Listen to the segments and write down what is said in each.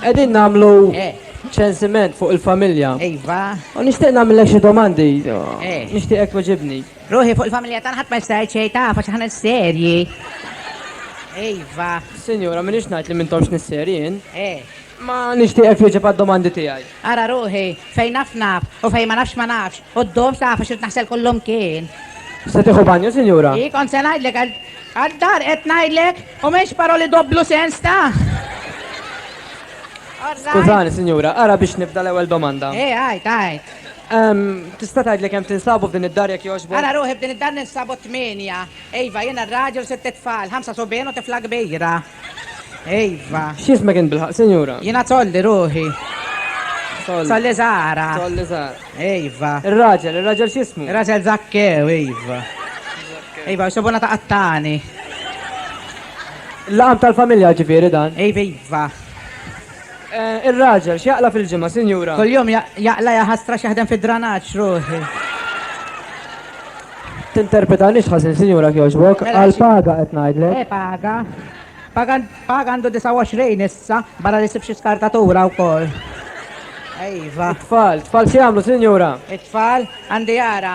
Qegħdin nagħmlu eh. ċensiment fuq il-familja. Iva. U nixtieq nagħmilek xi domandi. Eh. Nixtieq hekk weġibni. Ruħi fuq il-familja tagħna ħadd ma jista' jċej taf għax aħna serji. Iva. Sinjura, minix ngħid li m'intomx nisserjin. Eh. Ma nixtieq hekk weġib għad-domandi tiegħi. Ara ruħi, fejn naf naf, u fejn ma nafx ma nafx, u ddum taf għax irid naħsel kullimkien. Se tieħu banju, sinjura? Hi, kont se ngħidlek għal għad-dar qed ngħidlek, u m'hemmx paroli dopplu sens ta'. All right. Skużani, sinjura, ara biex nibda l-ewwel domanda. Hi, għid, għid. Ehm, Tista' tgħidli kemm tinsabu f'din id-dar jekk jogħġbok? Ara ruħi b'din id-dar ninsabu tmienja. Iva, jiena r-raġel u sitt tfal, ħamsa subien u tifla kbira. Iva. X'ismek int bilħaq, sinjura? Jiena tolli ruħi. Tolli. Tolli Zara. Tolli Zara. Iva. Ir-raġel, ir-raġel x'ismu? Ir-raġel Zakkew, iva. Iva, xobona ta' qattani. Laqam tal-familja ġifieri dan. Iva, iva. Ir-raġel, x'jaqla' fil-ġimgħa, sinjura? Kuljum jaqla' jaħasra x'jaħdem fid-dranaġġ, ruħi. Tinterpretanix ħażin, sinjura, jekk jogħġbok. Għall-paga qed ngħidlek. Eh, paga. Paga paga għandu 29 issa, barra li sib xi skartatura wkoll. Ejva. Tfal, tfal xi jagħmlu, sinjura? It-tfal għandi jara.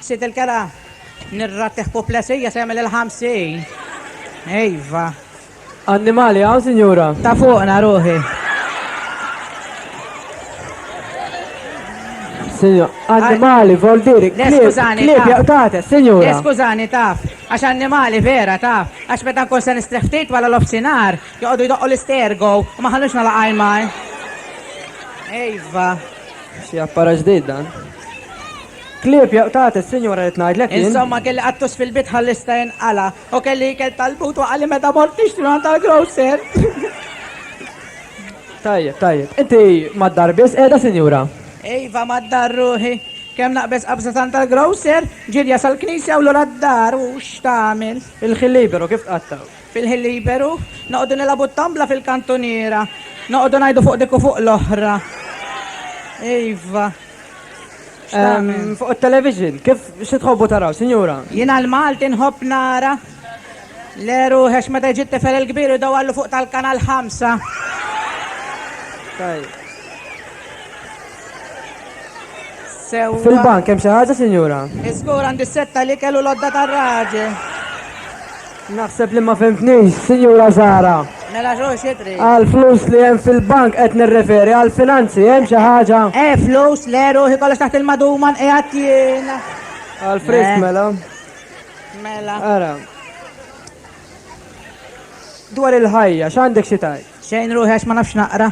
Sid il-kera, nirrattih puplesija se jagħmel il-ħamsin. Iva. Annimali hawn, sinjura? Ta' fuqna ruħi. Sinjura, annimali, vol diri, skużani. Klib jaqtate, sinjura. Le, skużani, taf. Għax annimali vera, taf. Għax meta nkun se nistrih ftit wara l-ofsinar, joqogħdu jdoqqu l-istergo, u ma ħallux nalaqaj maj. Ejva. Si appara ġdid dan. Klieb jaqtgħat is-sinjura qed ngħidlek jien. Insomma kelli qattus fil-bit ħalli jista' jinqala' u kelli ikel tal-but u qalli meta mort nixtri għand tal-grocer. Tajjeb, tajjeb. Inti mad-dar biss qiegħda sinjura? Iva mad-dar ruħi. Kemm naqbeż qabża tant tal-grocer, ġirja sal-knisja u lura d-dar u x'tagħmel. Il-ħin liberu kif tqattgħu? Fil-ħin liberu noqogħdu nilagħbu t-tombla fil-kantuniera. Noqogħdu ngħidu fuq dik u fuq l-oħra. Iva. Fuq it-television, kif xi tħobbu taraw, sinjura? Jiena l-Malti nħobb nara l-eru għax meta jġi t-tifel il-kbir u dawallu fuq tal-kanal 5. Fil-bank, hemm xi ħaġa, sinjura? Iżgur għandi s-setta li kellu l-odda tar-raġel. Naħseb li ma fhimtnix, Sinjura Zahra. Mela x'hu xi trid? Għall-flus li hemm fil-bank qed nirreferi, għall-finanzi hemm xi ħaġa? Eh, flus, le, ruħi kollox taħt il-maduman qiegħed jien. Għall-frisk Le. mela. Mela. Ara. Dwar il-ħajja, x'għandek xi tgħid? Xejn ruħi għax ma nafx naqra.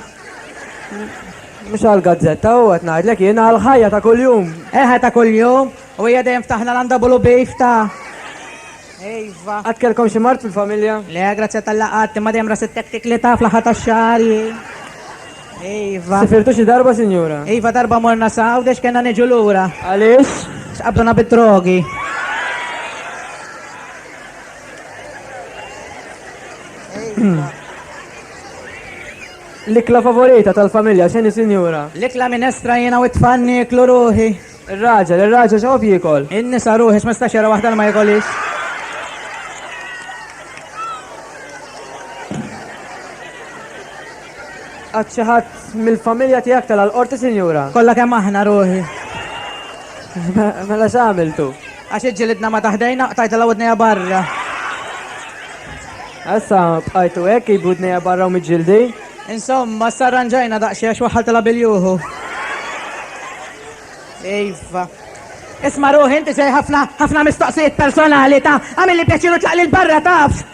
Mhux għall-gazzetta hu qed ngħidlek jien għall-ħajja ta' kuljum. Eħe ta' kuljum u hija dejjem ftaħna l-għandabulu beef ta' Iva. Qatt kellkom xi mard fil-familja? Le, grazzja tal laqat imma dejjem ras it-tektik li ta' fl-aħħar tax-xahar. Iva. Sifirtu xi darba, sinjura? Iva darba morna saw dex kellna niġu lura. Għaliex? X'qabduna bid-drogi. L-ikla favorita tal-familja, xeni sinjura? L-ikla minestra jena u tfanni iklu ruħi. Il-raġel, il-raġel xof jikol. In-nisa ruħi, x'mistax jara waħda ma jikolix. Għad xi ħadd mill-familja tiegħek tela' l-qorti, sinjura? Kollha kemm aħna, ruħi. Mela x'għamiltu? Għax iġġilidna ma taħdejna, qtajtilha widnejha barra. Issa bqajtu hekk ib widnejha barra u miġġildi? Insomma, issa rranġajna daqsxejn għax waħħaltilha bil-juhu. Iva. Isma' ruħi inti sej ħafna ħafna mistoqsijiet personali ta' għamilli pjaċir u tlaq lil barra taf.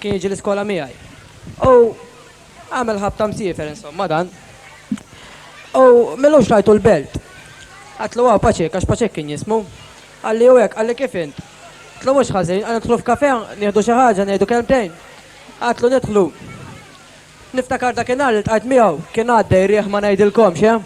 Kien jiġi l-iskola miegħi. U għamel ħabta msiefer insomma dan. U milux rajtu l-belt. Għatlu għaw paċek, għax paċek kien jismu. Għalli u hekk, għalli kif int? Għatlu mhux ħażin, għan nidħlu f'kafe, nieħdu xi ħaġa, ngħidu kelmtejn. Għatlu nidħlu. Niftakar dakinhar li ltqajt miegħu, kien għaddej riħ ma ngħidilkomx, eh?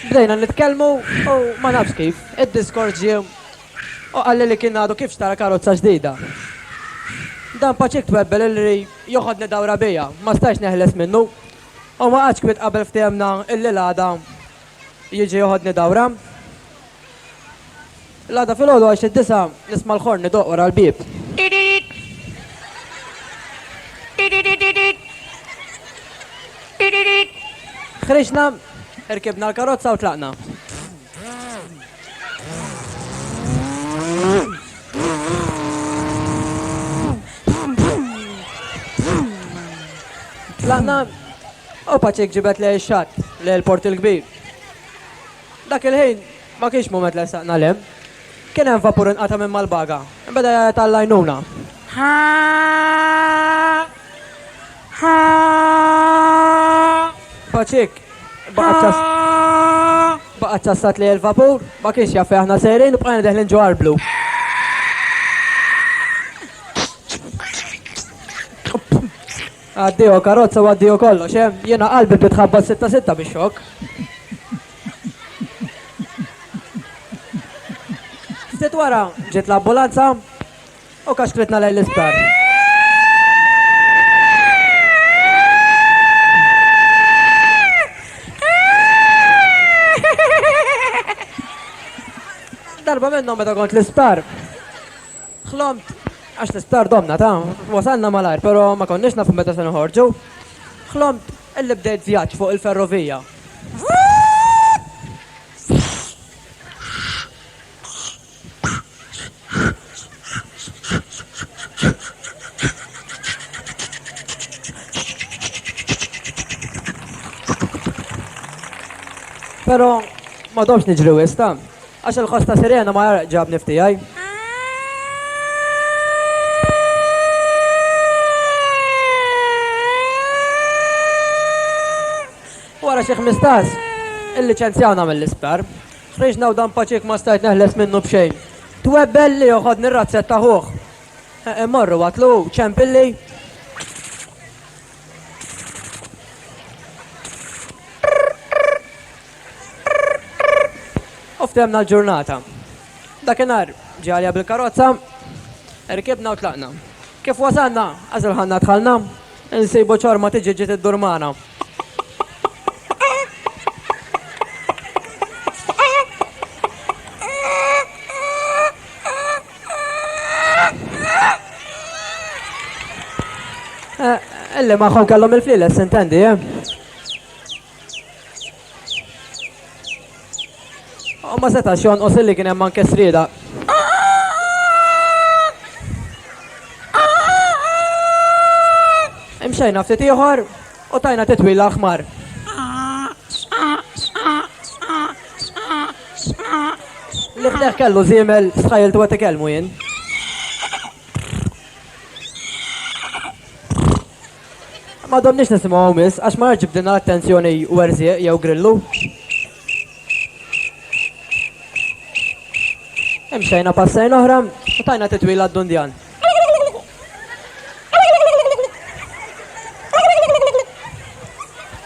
Bdejna nitkellmu u ma nafx kif, id-diskors ġie u qalli li kien għadu kif xtara karozza ġdida. Dan paċik twebbel illi joħodni dawra bija, ma stajtx neħles minnu u ma qgħadx kwiet qabel ftehemna illi l-għada Jiġi joħodni dawra. L-għada fil-ħodu għax id-disa nisma' l-ħorn idoq wara l-bieb. Ħriġna, irkibna l-karozza u tlaqna. Tlaqna Opacic ġibed lejn ix-xatt, lejn il-Port il-Kbir. Dak il-ħin ma kienx mument li ressaqna 'l hemm. Kien hemm vapur inqata' minn Malbaga. Beda jgħajjat għall-għajnuna. Ħa! Ħa! Pacic baqgħet ċassat lejn il-vapur, ma kienx jaf fejn aħna sejrin u bqajna deħlin ġo arblu. Għaddieho karozza u għaddiehu kollox, eh? Jiena qalbi bdiet tħabbat sitta sitta bix-xokk. Ftit wara ġiet l-ambulanza u kaxkritna lejn l-isptar. Darba minnhom meta kont l-isptar. Ħlomt għax l-isptar domna ta'. Wasalna malajr però ma konniex nafu meta se noħorġu. Ħlomt illi bdejt vjaġġ fuq il-ferrovija. Però ma domx niġri wisq ta'. Għax il-ħoss ta' sirena ma jgħarraq ġabni f'tiegħi. Wara xi ħmistax, il-liċenzjawna mill-isptar. Ħriġna u dan paċik ma stajt neħles minnu b'xejn. Twebbel li joħod nirrazzet taħuħ. Morru għatlu ċempilli. U ftemna l-ġurnata. Dakinhar ġalja bil-karozza, rkibna u tlaqna. Kif wasalna, għażil ħanna dħalna, insibu ċorma tiġi ġiet iddur magħna. Illi magħhom kellhom il-fliles, intendi, eh? U ma setax jonqos illi kien hemm anke srieda. Imxejna ftit ieħor u tajna titwila ħmar. Li fdeħ kellu żiemel stħajl tu għet jien. M'għadhomniex nisimgħu hawn miss għax ma għadx ġibdilna l-attenzjoni Werżieq jew Grillu. Imxejna passejn oħra u tajna titwila għad-Dundjan.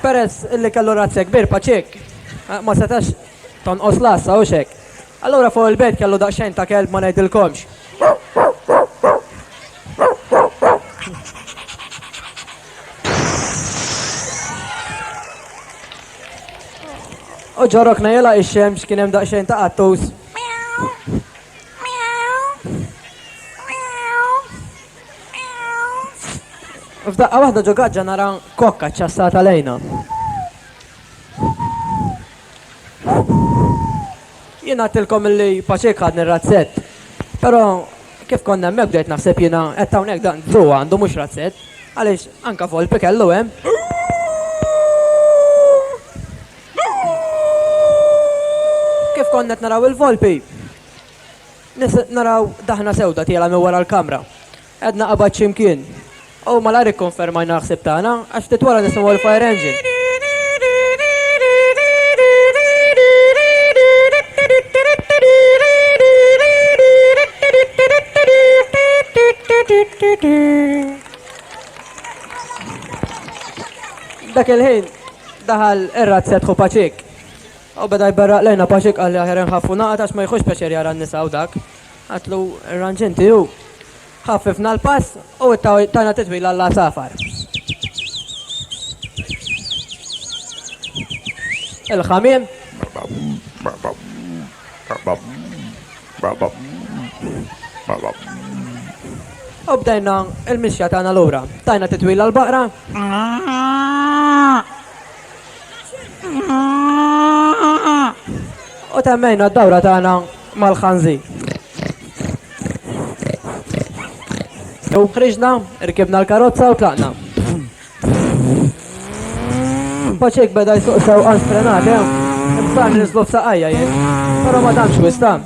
Peress li kellu razzja kbir paċik, ma setax Tonqos l-għassa, hux hekk? Allura fuq il-belt kellu daqsxejn ta' kelb ma ngħidilkomx. U ġorok najela ix-xemx kien hemm daqsxejn ta' qattus. F'daqqa waħda ġo gaġġa nara kokka ċassata lejna. Jien għadtilkom illi paċek ħadni razzett. Però kif konna hemmhekk bdejt naħseb jiena qed hawnhekk dan Drew għandu mhux razzett, għaliex anka volpi kellu hemm. Kif konna qed naraw il-volpi, naraw daħna sewda tiela minn wara l-kamra. Għedna qabad x'imkien. U malajr ikkonfermajna l-ħsieb tagħna għax ftit wara nisimgħu l-fire engine. Dak il-ħin daħal ir-razzet hu paċik. U beda jberraq lejna paċik għalli aħjar nħaffu naqat għax ma jħux peċer jara n-nisa u dak. Qatlu r-ranġenti u ħaffifna l-pass u tajna titwil għall-għasafar. Il-ħamim. U bdejna il-mixja tagħna lura. Tajna titwil għall-baqra. U temmejna d-dawra tagħna mal-ħanżi. U ħriġna, rkibna l-karozza u tlaqna. Paċek beda jsuq sew għal frenat, eh? Bżan nislu f'saqajja jien. Pero ma danx wistan.